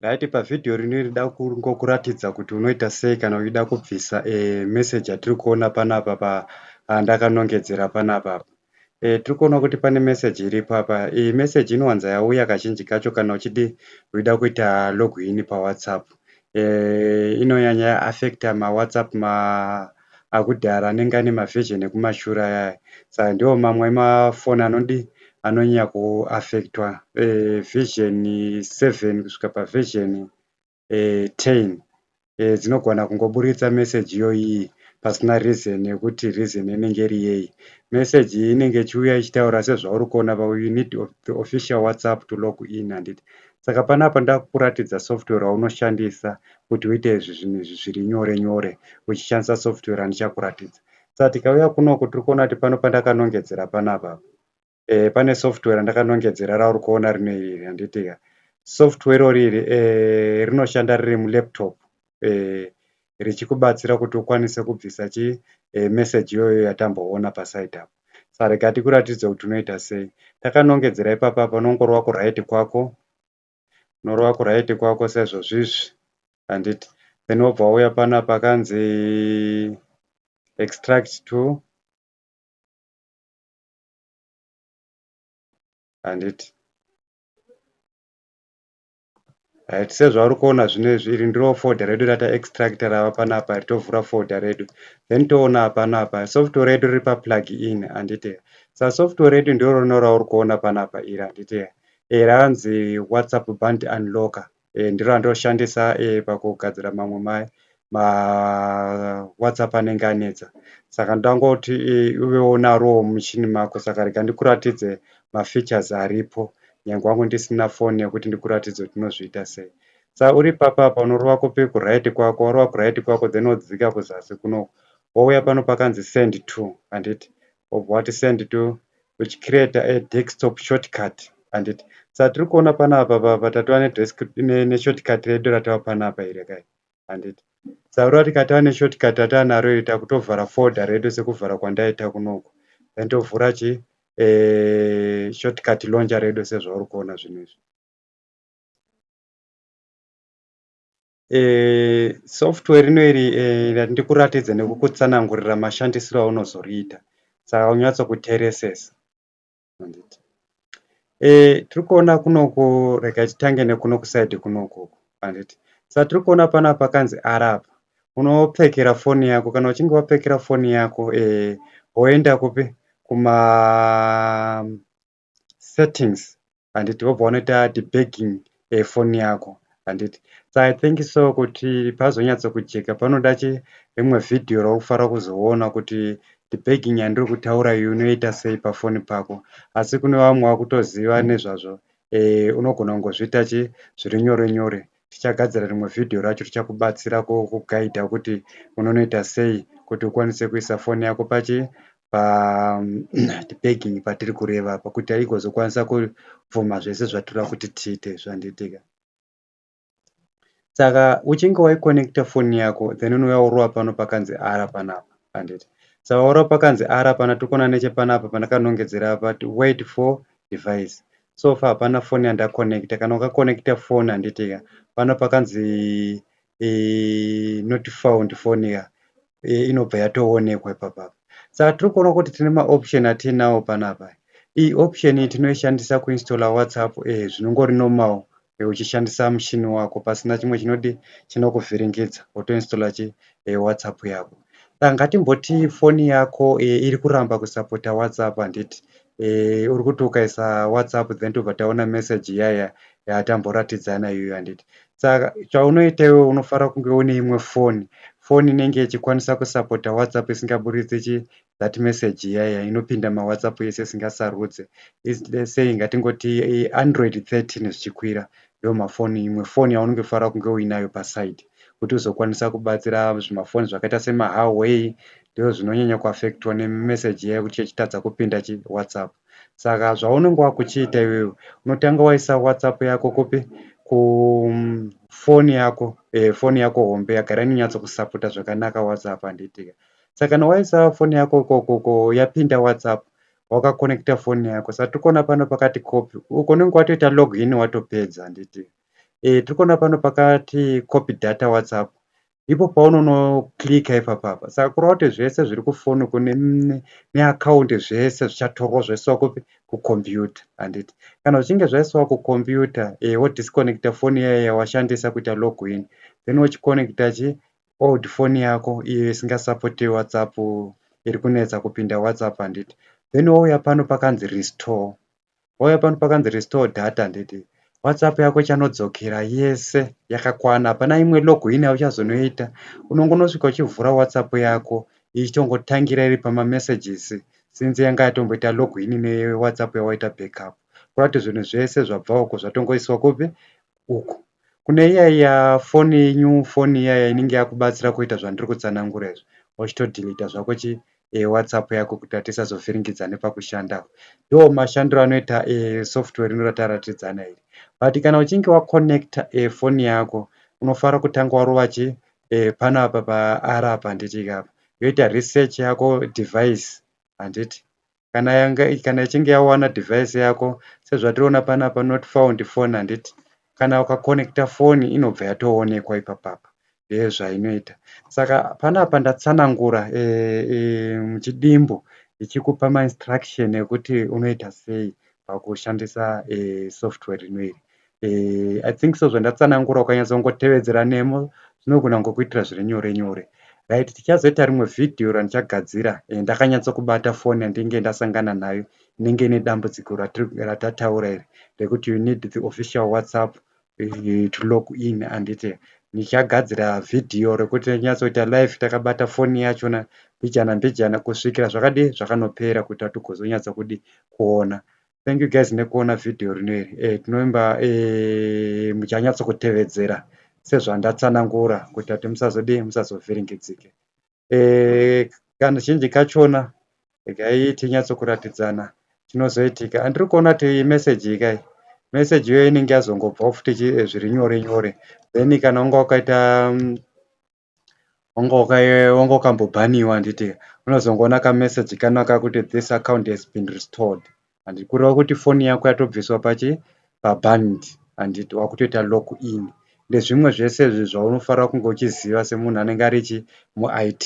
Right pavhidhiyo rino rida kungokuratidza kuti unoita sei kana uchida kubvisa e, message yatiri kuona panapa pa ah, ndakanongedzera panapa apa e, tiri kuona kuti pane message iripo apa iyi message inowanza yauya kazhinji kacho kana uchidi uchida kuita login pawhatsapp eh, inonyanya affecta mawhatsapp ma akudhara anenge ane maversion ekumashure aya saka ndiwo mamwe emafoni anodi anonyanya kuaffectwa eh, version 7 kusvika paversion eh, 10 eh, dzinogona kungoburitsa message iyoyi pasina reason yekuti reason inenge iri yei message iyi inenge ichiuya ichitaura sezvauri kuona but you need the official whatsapp to log in handiti Saka panapa ndakukuratidza software raunoshandisa kuti uite izvi zvinhu izvi zviri nyore nyore uchishandisa software randichakuratidza. Saka tikauya kunoku tiri kuona kuti pano pandakanongedzera panapa e, pane software randakanongedzera rauri kuona rino iri handitika software irori iri e, rinoshanda riri mulaptop eh, richikubatsira kuti ukwanise kubvisa chi eh, message iyoyo yatamboona paside apo sarega tikuratidze kuti unoita sei takanongedzera ipapa panongorova kuraiti kwako unorova kuraiti kwako sezvozvizvi handiti then wobva wauya pana pakanzi extract to handiti Right, sezvauri kuona zvino izvi iri ndiro folder redu rata extractor rava panapa ritovhura folder redu then toona panapa software redu riri pa plug in handite sa software redu ndiro rino rauri kuona panapa iri handite e eh, ranzi whatsapp band unlocker e eh, ndiro randoshandisa e eh, pakugadzira mamwe mai ma whatsapp anenge anetsa saka ndangoti eh, uvewo narowo muchini mako saka rega ndikuratidze mafeatures aripo nyange wangu ndisina foni yekuti ndikuratidze kuti unozviita sei sa uri papa apa unorova kupi kuright kwako warova kuright kwako then wodzika kuzasi kuno wouya pano pakanzi send to handiti wobva wati send to uchicreata a desktop shortcut handiti sa tiri kuona panapa papa tatova neshortcut redu ratava panapa iri kai handiti saura tikati ane shortcut ataanaro ita kutovhara folder redu sekuvhara kwandaita kunoko then tovhura chi eh, shortcut launcher redu sezvauri kuona zvinhu izvi eh, software rino iri eh, ndikuratidze nekukutsanangurira mashandisiro aunozoriita saka unyatso kuteresesa handiti eh, tiri kuona kunoku rega titange nekuno kusaidi kunoku handiti sa tiri kuona pana pakanzi arapa unopfekera foni yako kana uchinge wapfekera foni yako eh, woenda kupi kuma settings handiti wobva wanoita debagging eh, foni yako handiti so i think so kuti pazonyatsokujeka panoda chi rimwe vhidhiyo raufara kuzoona kuti debagging yandiri kutaura iyo unoita sei pafoni pako asi kune vamwe vakutoziva nezvazvo eh, unogona kungozviita chi zviri nyore nyore tichagadzira rimwe vhidhiyo racho richakubatsira kugaidha kuti unonoita sei kuti ukwanise kuisa foni yako pachi pabegging patiri kureva apa kuti aigozokwanisa kufoma zvese zvatira kuti tiite zvandiitika saka uchinge waiconnecta foni yako then unouya worova pano pakanzi ara panapa handiti saka worova pakanzi ara pana tikona nechepanapa pandakanongedzera apa wait for device so far hapana foni yandaconnecta kana ukaconnecta foni handitika pano pakanzi eh, not found phone ya eh, inobva yatoonekwa ipapa saka tiri kuona kuti tine maoption atiinawo panapa iyi option iyi tinoishandisa kuinstalla whatsapp eh, zvinongori normal eh, uchishandisa mushini wako pasina chimwe chinodi chinokuvhiringidza wotoinstalla chi eh, whatsapp yako saka ngatimboti foni yako eh, iri kuramba kusapota whatsapp handiti eh, uri kuti ukaisa whatsapp then tobva taona message yaya yatamboratidzana iyoyo handiti saka chaunoita iwe unofanira kunge une imwe foni foni inenge ichikwanisa kusapota whatsapp isingaburitse chi that message iyaya inopinda mawhatsapp ese isingasarudze saying ngatingoti android 13 zvichikwira ndiwo mafoni imwe foni yaunenge uchifanira kunge uinayo paside kuti uzokwanisa kubatsira zvimafoni zvakaita semahuaway ndizvo zvinonyanya kuaffectwa nemeseji iya yekuti chechitadza kupinda chiwhatsapp saka zvaunenge wakuchiita iwewe unotanga waisa whatsapp yako kupi kufoni yako eh, foni yako hombe yagara inonyatso kusaputa zvakanaka whatsapp handitika saka kana waisa foni yako ikoko yapinda whatsapp wakakonekita foni yako sa tiri kuona pano pakati copy uko unenge watoita log in watopedza handiti e, tiri kuona pano pakati copy data whatsapp ipo paunonoklika ipapapa saka kureva kuti zvese zviri kufoni uko neakaundi zvese zvichatorwa zvaiswa kupi kukombiyuta handiti kana zvichinge zvaiswa kukombiyuta e, wodiskonekita foni iyayo yawashandisa kuita log in then wochikonekita chi old phone yako iyo isingasapoti whatsapp iri kunetsa kupinda whatsapp handiti then wauya pano pakanzi restore wauya pano pakanzi restore data handiti whatsapp yako ichanodzokera yese yakakwana hapana imwe login yauchazonoita unongonosvika uchivhura whatsapp yako ichitongotangira iri pamamessages since yanga yatomboita login newhatsapp yawaita backup kurati zvinhu zvese zvabva uko zvatongoiswa kupi uku. Kune iya iya foni yenyu foni iya iya inenge yakubatsira kuita zvandiri kutsanangura izvi wachitodhilita zvako chi e, whatsapp yako kuti hatisazovhiringidzane pakushanda ndo mashandiro anoita e, software rino rataratidzana iri but kana uchinge waconnecta e, eh, foni yako unofara kutanga warova chi e, pano apa paara apa handiti ikapa yoita research yako device handiti kana yanga kana ichinge yawana device yako sezvatiriona panapa not found phone handiti kana ukakonekta foni inobva yatoonekwa ipapapa ndeye zvainoita saka panapa ndatsanangura e, e, muchidimbu ichikupa mainstruction ekuti unoita sei pakushandisa e, software rino iri eh, i think so zvandatsanangura ukanyatsongotevedzera nemo zvinogona kungokuitira zviri nyore nyore right tichazoita rimwe vhidhiyo randichagadzira eh, ndakanyatsokubata foni yandinge ndasangana nayo inenge ine dambudziko ratataura iri rekuti you need the official whatsapp eh, to log in andite ndichagadzira vhidhiyo rekuti tinyatsoita live takabata foni yachona mbijana mbijana kusvikira zvakadii zvakanopera kuti hatigozonyatsa kudi kuona Thank you guys nekuona video rino iri eh, tinovimba eh, muchanyatso kutevedzera sezvandatsanangura kuita kuti musazodii musazovhiringidzike eh, kana zhinji kachona regai tinyatso kuratidzana chinozoitika andiri kuona kuti meseji ikai meseji iyo inenge yazongobvawo futi eh, zviri nyore nyore then kana unga wakaita mm, wanga wakambobhaniwa handiti unozongoona kamessage kano kakuti this account has been restored handiti kureva kuti foni yako yatobviswa pachi paband handiti wakutoita lock in ndezvimwe zvese izvi zvaunofanira kunge uchiziva semunhu anenge arichi muit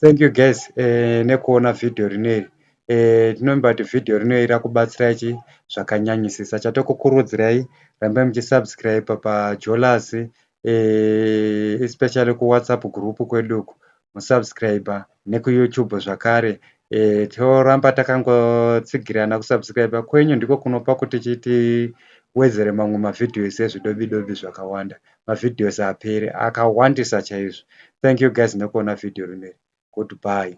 Thank you guys eh, nekuona video rineri eh, tinomba kuti video rineri rakubatsirai chi zvakanyanyisisa chatokukurudzirai rambai muchisubscribe pajolas eh, especially kuwhatsapp group kwedu uku musubscribe nekuyoutube zvakare eh, toramba takangotsigirana kusubscribe kwenyu ndiko kunopa kuti chiti wedzere mamwe mavhidhios ezvidobidobi zvakawanda mavideos apere akawandisa chaizvo thank you guys nekuona video rineri goodbye.